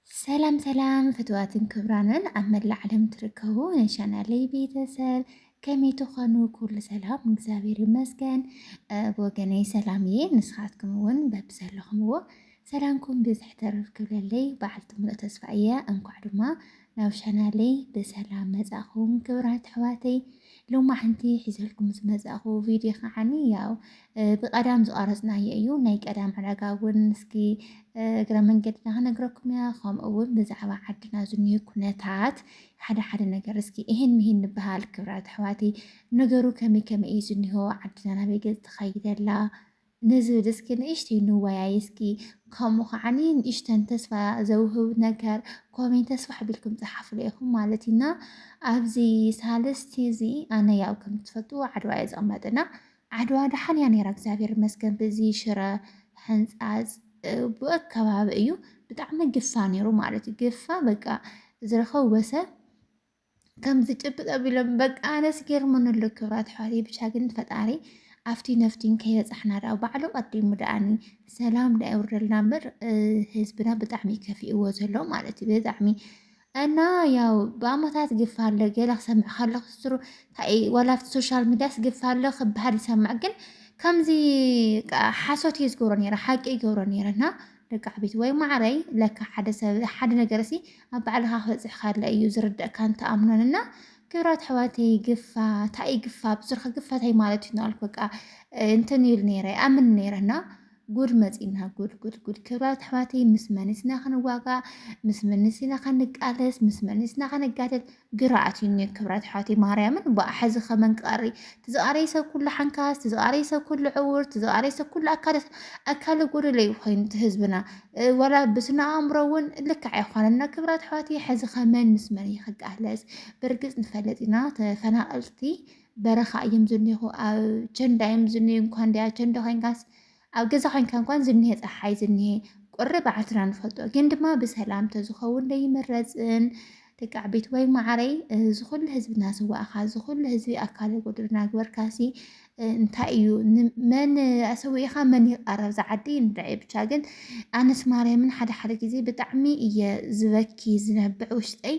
ሰላም ሰላም ፍትዋትን ክብራንን ኣብ መላእ ዓለም ትርከቡ ናይ ቻናለይ ቤተሰብ ከመይ ትኾኑ? ኩሉ ሰላም እግዚኣብሔር ይመስገን። ብወገነይ ሰላም እየ። ንስኻትኩም እውን በብዘለኹምዎ ሰላምኩም ብዝሕ ተረፍ ክብለለይ በዓልቲ ሙሉእ ተስፋ እየ። እንኳዕ ድማ ናብ ቻናለይ ብሰላም መጻእኹም ክብራት ኣሕዋተይ ሎማዓንቲ ሒዘልኩም ዝመጻእኹ ቪድዮ ከዓኒ ያው ብቀዳም ዝቀረጽናዮ እዩ ናይ ቀዳም ዕዳጋ እውን እስኪ እግረ መንገድና ክነግረኩም እያ ከምኡ እውን ብዛዕባ ዓድና ዝኒሀ ኩነታት ሓደ ሓደ ነገር እስኪ ይሄን ምሂን ንበሃል ክብራት ኣሕዋተይ ነገሩ ከመይ ከመይ እዩ ዝኒሆ ዓድና ናበይ ገጽ ተኸይደላ ንዝብል እስኪ ንእሽተይ ንወያይ እስኪ ከምኡ ከዓኒ ንእሽተን ተስፋ ዘውህብ ነገር ኮሜንት ተስፋ ሓቢልኩም ፀሓፍሉ ኢኹም ማለት እዩ እና ኣብዚ ሳልስቲ እዚ ኣነ ያው ከም ትፈልጥዎ ዓድዋ እየ ዝቕመጥ እና ዓድዋ ደሓን እያ ነይራ እግዚኣብሔር ይመስገን ብዚ ሽረ ሕንፃፅ ብኡ ከባቢ እዩ ብጣዕሚ ግፋ ነይሩ ማለት እዩ ግፋ በቃ ዝረኸቡ በሰብ ከምዚ ጭብጥ ኣቢሎም በቃ ኣነስ ገርሙን ኣሎ ክብራት ኣሕዋተይ ብቻ ግን ፈጣሪ ኣብቲ ነፍቲን ከይበፃሕና ደኣ ባዕሉ ቀዲሙ ደኣኒ ሰላም ደኣ የውርደልና እምበር ህዝብና ብጣዕሚ ከፊእዎ ዘሎ ማለት እዩ ብጣዕሚ እና ያው ብኣመታት ግፋ ኣሎ ገለ ክሰምዕ ከለኩ ስሩ ዋላ ኣብቲ ሶሻል ሚዲያስ ግፋ ኣሎ ክበሃል ይሰምዕ ግን ከምዚ ሓሶት እየ ዝገብሮ ነረ ሓቂ ይገብሮ ነረ እና ደቅዓበይቲ ወይ ማዓረይ ለካ ሓደ ሰብ ሓደ ነገር ሲ ኣብ ባዕልካ ክበፅሕ ካለ እዩ ዝርደእካን ትኣምኖን እና ክብራት ኣሕዋተይ ግፋ ታይ ግፋ ብዙርካ ግፋ ታይ ማለት እዩ ናልኩ በቃ እንትን ይብል ነይረ ኣምን ነይረ እና ጉድ መፂና ጉድ ጉድ ጉድ ክብራት ኣሕዋተይ ምስ መኒስና ክንዋጋ ምስ መኒስና ክንቃለስ ምስ መኒስና ክንጋደል ግራ ኣትዩኒ ክብረት ኣሕዋተይ ማርያምን ብኣሐዚ ከመን ክቀሪ ትዝቃረይ ሰብ ኩሉ ሓንካስ ትዝቃረይ ሰብ ኩሉ ዕውር ትዝቃረይ ሰብ ኩሉ ኣካለ ኣካለ ጎደለ እዩ ኮይኑ እቲ ህዝብና ወላ ብስነ ኣእምሮ እውን ልክዕ ኣይኮነና ክብራት ኣሕዋተይ ሕዚ ከመን ምስ መን ይክቃለስ ብርግፅ ንፈለጥ ኢና ተፈናቀልቲ በረኻ እዮም ዝኒኹ ኣብ ቸንዳ እዮም ዝኒ እንኳን ዲያ ቸንዳ ኮይንካስ ኣብ ገዛ ኮይንካ እንኳን ዝኒሀ ፀሓይ ዝኒሀ ቁሪ ባዓልትና ንፈልጦ ግን ድማ ብሰላም ተዝኸውን ዶ ይምረፅን ደቂ ዓበይትዋይ ማዓረይ እዚ ኩሉ ህዝቢ እናሰዋእኻ እዚ ኩሉ ህዝቢ ኣካለ ጎደሎ እናግበርካሲ እንታይ እዩ መን ኣሰዊእኻ መን ይቃረብ ዝዓዲ ንርዐ ብቻ ግን ኣነስ ማርያምን ሓደ ሓደ ግዜ ብጣዕሚ እየ ዝበኪ ዝነብዕ ውሽጠይ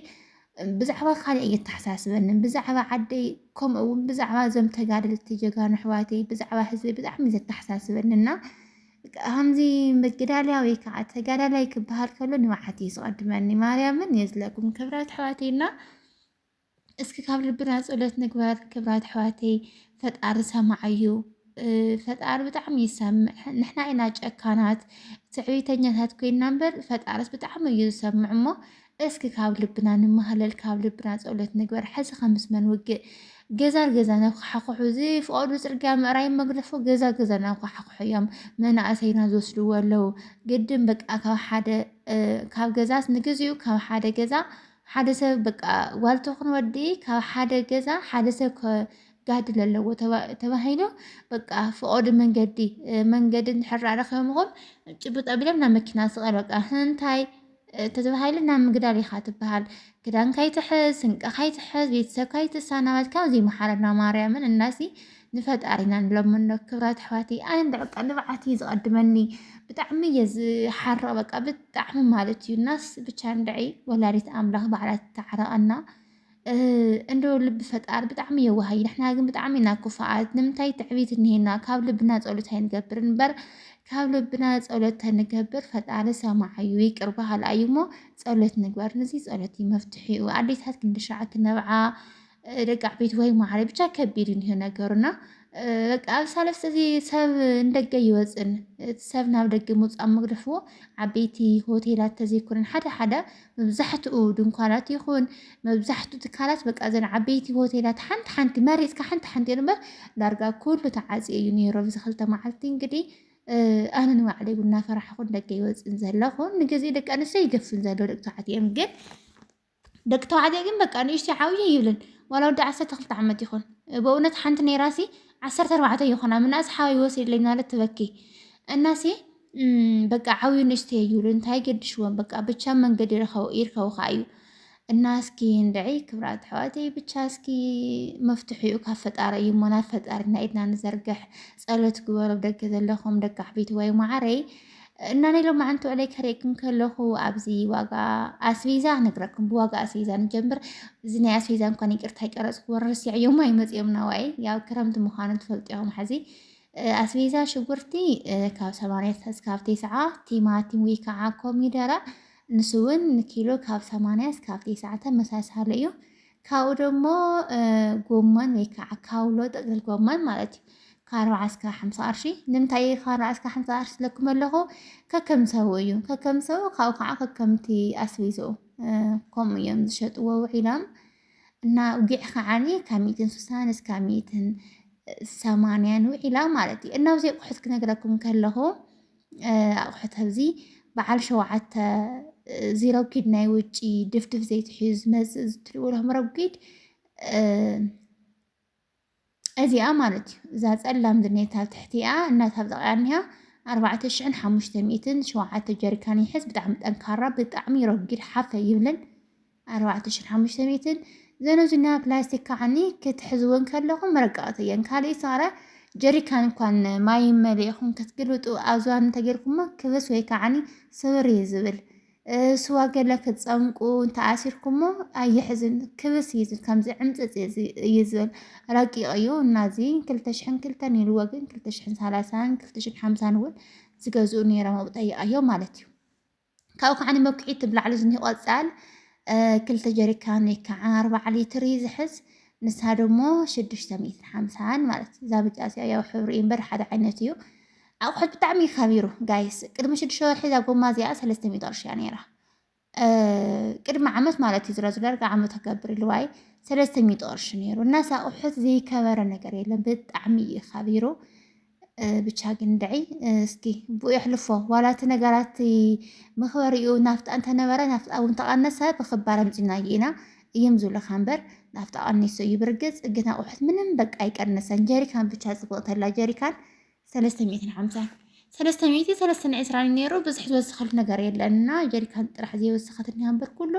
ብዛዕባ ካልእ እየተሓሳስበንን ብዛዕባ ዓደይ ከምኡ እውን ብዛዕባ እዞም ተጋደልቲ ጀጋኑ ኣሕዋተይ ብዛዕባ ህዝቢ ብጣዕሚ እዩ ዘተሓሳስበንና ከምዚ ምግዳልያ ወይ ከዓ ተጋዳላይ ክበሃል ከሎ ንባዓት እዩ ዝቐድመኒ ማርያምን የዝለኩም ክብራት ኣሕዋተይና እስኪ ካብ ልብና ፀሎት ንግበር ክብራት ኣሕዋተይ ፈጣሪ ሰማዕ እዩ ፈጣሪ ብጣዕሚ ይሰምዕ ንሕና ኢና ጨካናት ትዕቢተኛታት ኮይና እምበር ፈጣሪስ ብጣዕሚ እዩ ዝሰምዕ እሞ እስኪ ካብ ልብና ንማሃለል ካብ ልብና ጸሎት ንግበር ሕዚ ከ ምስ መን ውግእ ገዛ ንገዛ ነኳሓኩሑ ዝፍቐዱ ጽርግያ ምእራይ መግደፎ ገዛ ገዛ ናኳሓኩሑ እዮም መናእሰይና ዝወስድዎ ኣለዉ ግድን በቃ ካብ ሓደ ካብ ገዛስ ንግዚኡ ካብ ሓደ ገዛ ሓደ ሰብ በቃ ጓል ትኹን ወዲ ካብ ሓደ ገዛ ሓደ ሰብ ክጋድል ኣለዎ ተባሂሉ በቃ ፍቐዱ መንገዲ መንገዲ እንድሕር ረኺቦምኹም ጭብጥ ኣቢሎም ናብ መኪና ስቐል በቃ እንታይ ተተባሂሉ ናብ ምግዳል ኢኻ ትበሃል። ክዳንካ ይትሕዝ፣ ስንቅኻ ይትሕዝ፣ ቤተሰብካ ይተሳናበት። ካብዚ ይመሓረና ማርያምን እናሲ ንፈጣሪና ንለምኖ። ክብራት ኣሕዋተይ ኣነ እንደ በቃ ንብዓት እዩ ዝቐድመኒ ብጣዕሚ እየ ዝሓርቕ በቃ ብጣዕሚ ማለት እዩ። እናስ ብቻ እንድዒ ወላዲት ኣምላኽ ባዕላ ትተዓረቐና። እንዶ ልቢ ፈጣሪ ብጣዕሚ የዋህ እዩ ንሕና ግን ብጣዕሚ ኢና ክፉኣት ንምንታይ ትዕቢት እኒሄና ካብ ልብና ፀሎት ኣይንገብር እምበር ካብ ልብና ፀሎት ተንገብር ፈጣሪ ሰማዕ እዩ ይቅር በሃል እዩ እሞ ፀሎት ንግበር ንዚ ፀሎት እዩ መፍትሒኡ ኣዴታት ክንድሻዕ ክነብዓ ደቂ ዓበይቲ ወይ ማዕረ ብቻ ከቢድ እዩ እንሄ ነገሩና በቃ ኣብ ሳለስተ እዚ ሰብ እንደገ ይወፅን እቲ ሰብ ናብ ደገ ምውፃእ መግደፍዎ ዓበይቲ ሆቴላት ተዘይኮነን ሓደ ሓደ መብዛሕትኡ ድንኳናት ይኹን መብዛሕትኡ ትካላት በቃ እዘን ዓበይቲ ሆቴላት ሓንቲ ሓንቲ መሪፅካ ሓንቲ ሓንቲ እዮም እምበር ዳርጋ ኩሉ ተዓፅዮ እዩ ነይሩ ኣብዚ ክልተ መዓልቲ እንግዲህ ኣነ ንባዕለይ እውን እናፈራሕኹን ደገ ይወፅን ዘለኹ ንግዜ ደቂ ኣንስትዮ ይገፍን ዘሎ ደቂ ተባዕትዮ እዮም ግን ደቂ ተባዕትዮ ግን በቃ ንእሽተይ ዓብዩ ይብልን ዋላ ወዲ ዓሰርተ ክልተ ዓመት ይኹን በእውነት ሓንቲ ነይራሲ ዓሰርተ ኣርባዕተ ይኹና ምናእስ ሓወይ ወሲድለይ እናበለት ትበኪ እናሲ በቃ ዓብዩ ንእሽተ ይብሉ እንታይ ገድሽዎም በቃ ብቻ መንገድ ይርከቡካ እዩ እና እስኪ እንድዒ ክብራት ኣሕዋተይ ብቻ እስኪ መፍትሒኡ ካብ ፈጣሪ እዩ እሞ ናብ ፈጣሪና ኢድና ንዘርግሕ ፀሎት ግበሩ ደገ ዘለኹም ደቂ ዓበይቲ ወይ ማዓረይ እና ናይ ሎማዓንቲ ውዕለይ ከርእየኩም ከለኹ ኣብዚ ዋጋ ኣስቤዛ ነግረኩም ብዋጋ ኣስቤዛ ንጀምር እዚ ናይ ኣስቤዛ እንኳን ይቅርታ ይቀረፅኩ ወረስዕ እዮም ኣይመፅኦምና ዋይ ያው ክረምቲ ምዃኑ ትፈልጡ ኢኹም ሓዚ ኣስቤዛ ሽጉርቲ ካብ ሰማንያ እስካብ ቴስዓ፣ ቲማቲም ወይ ከዓ ኮሚደረ ንሱ እውን ንኪሎ ካብ ሰማንያ እስካብ ቴስዓ ተመሳሳሊ እዩ። ካብኡ ደሞ ጎመን ወይ ከዓ ካውሎ ጥቅልል ጎመን ማለት እዩ ካርባዓ እስከ ሓምሳ ቅርሺ ንምንታይ ካርባዓ እስከ ሓምሳ ቅርሺ ዝለኩም ኣለኹ ከከም ሰቡ እዩ ከከም ሰቡ ካብኡ ከዓ ከከምቲ ኣስቤዝኡ ከምኡ እዮም ዝሸጥዎ ውዒሎም እና ውጊዕ ከዓኒ ካብ ሚእትን ስሳን እስካብ ሚእትን ሰማንያን ውዒላ ማለት እዩ እና ብዘይ ኣቑሑት ክነግረኩም ከለኹ ኣቑሑት ኣብዚ በዓል ሸውዓተ ዚረጒድ ናይ ውጪ ድፍድፍ ዘይትሕዩ ዝመፅእ ዝትሪኡ ሎም ረጒድ እዚኣ ማለት እዩ እዛ ጸላም ዝኔታ ኣብ ትሕቲኣ እናታብጠቂያ እኒሃ ኣርባዕተ ሽሕን ሓሙሽተ ሚእትን ሸውዓተ ጀሪካን ይሕዝ ብጣዕሚ ጠንካራ ብጣዕሚ ረጊድ ሓፈ ይብልን ኣርባዕተ ሽሕን ሓሙሽተ ሚእትን ዘነዙኛ ፕላስቲክ ከዓኒ ክትሕዝወን ከለኹም መረቀቕቲ እየን ካልእ ሰረ ጀሪካን እንኳን ማይ መሊእኹም ክትግልብጡ ኣብዝባን እንተጌርኩሞ ክብስ ወይ ከዓኒ ስብር እዩ ዝብል ስዋ ገለ ክትፀምቁ እንተኣሲርኩሞ ኣየሕዝን ክብስ እዩ ከምዚ ዕምፅፅ እዩ ዝብል ረቂቕ እዩ እና እዚ ክልተ ሽሕን ክልተን ኢልዎ ግን ክልተ ሽሕን ሰላሳን ክልተ ሽሕን ሓምሳን እውን ዝገዝኡ ነይሮም ኣብ ጠይቃዮ ማለት እዩ ካብኡ ከዓ ንመኩሒት ትብላዕሉ ዝኒ ቆፃል ክልተ ጀሪካን ወይ ከዓ ኣርባዓ ሊትር እዩ ዝሕዝ ንሳ ደሞ ሽዱሽተ ሚእትን ሓምሳን ማለት እዛ ብጫ እዚኣ ያው ሕብሪ እምበር ሓደ ዓይነት እዩ ኣቁሑት ብጣዕሚ እዩ ከቢሩ ጋይስ ቅድሚ ሽዱሽተ ወርሒ እዛ ጎማ እዚኣ ሰለስተ ሚእቲ ቅርሺ እያ ነይራ ቅድሚ ዓመት ማለት እዩ ዝረዙ ዳርጋ ዓመት ከገብር ልዋይ ሰለስተ ሚእቲ ቅርሺ ነይሩ እና ኣቁሑት ዘይከበረ ነገር የለን ብጣዕሚ እዩ ከቢሩ ብቻ ግን ድዒ እስኪ ብኡ የሕልፎ ዋላ እቲ ነገራት መኽበሪኡ ናፍጣ እንተነበረ ናፍጣ እውን ተቐነሰ ብክባር ኣምፂናዮ ኢና እዮም ዝብለካ እምበር ናፍጣ ቀኒሱ እዩ ብርግፅ ግን ኣቁሑት ምንም በቃ ኣይቀነሰን ጀሪካን ብቻ ፅብቕተላ ጀሪካን ሰለስተ ሚእትን ሓምሳን ሰለስተ ሚእቲ ሰለስተን ዕስራን ነይሩ ብዙሕ ዝወሰኸሉ ነገር የለን እና ጀሪካን ጥራሕ ዘይወሰኸት እኒሃ እምበር ኩሉ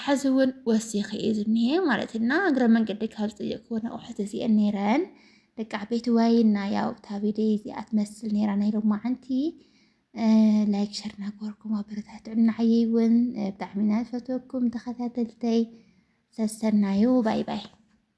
ሕዚ እውን ወሲኺ እዩ ዝኒሀ ማለት እና እግረ መንገዲ ካብ ዝጠየቅክዎ ኣቑሑት እዚአን ነይረን ደቂ ዓበይቲ ዋይና ያው እታ ቪድዮ እዚኣ ትመስል ነይራ ናይ ሎማዓንቲ ላይክ ሸር ናገበርኩም ኣበረታትዑን ንዓየይ እውን ብጣዕሚ ኢና ዝፈትወኩም ተኸታተልተይ ሰሰናዩ ባይ ባይ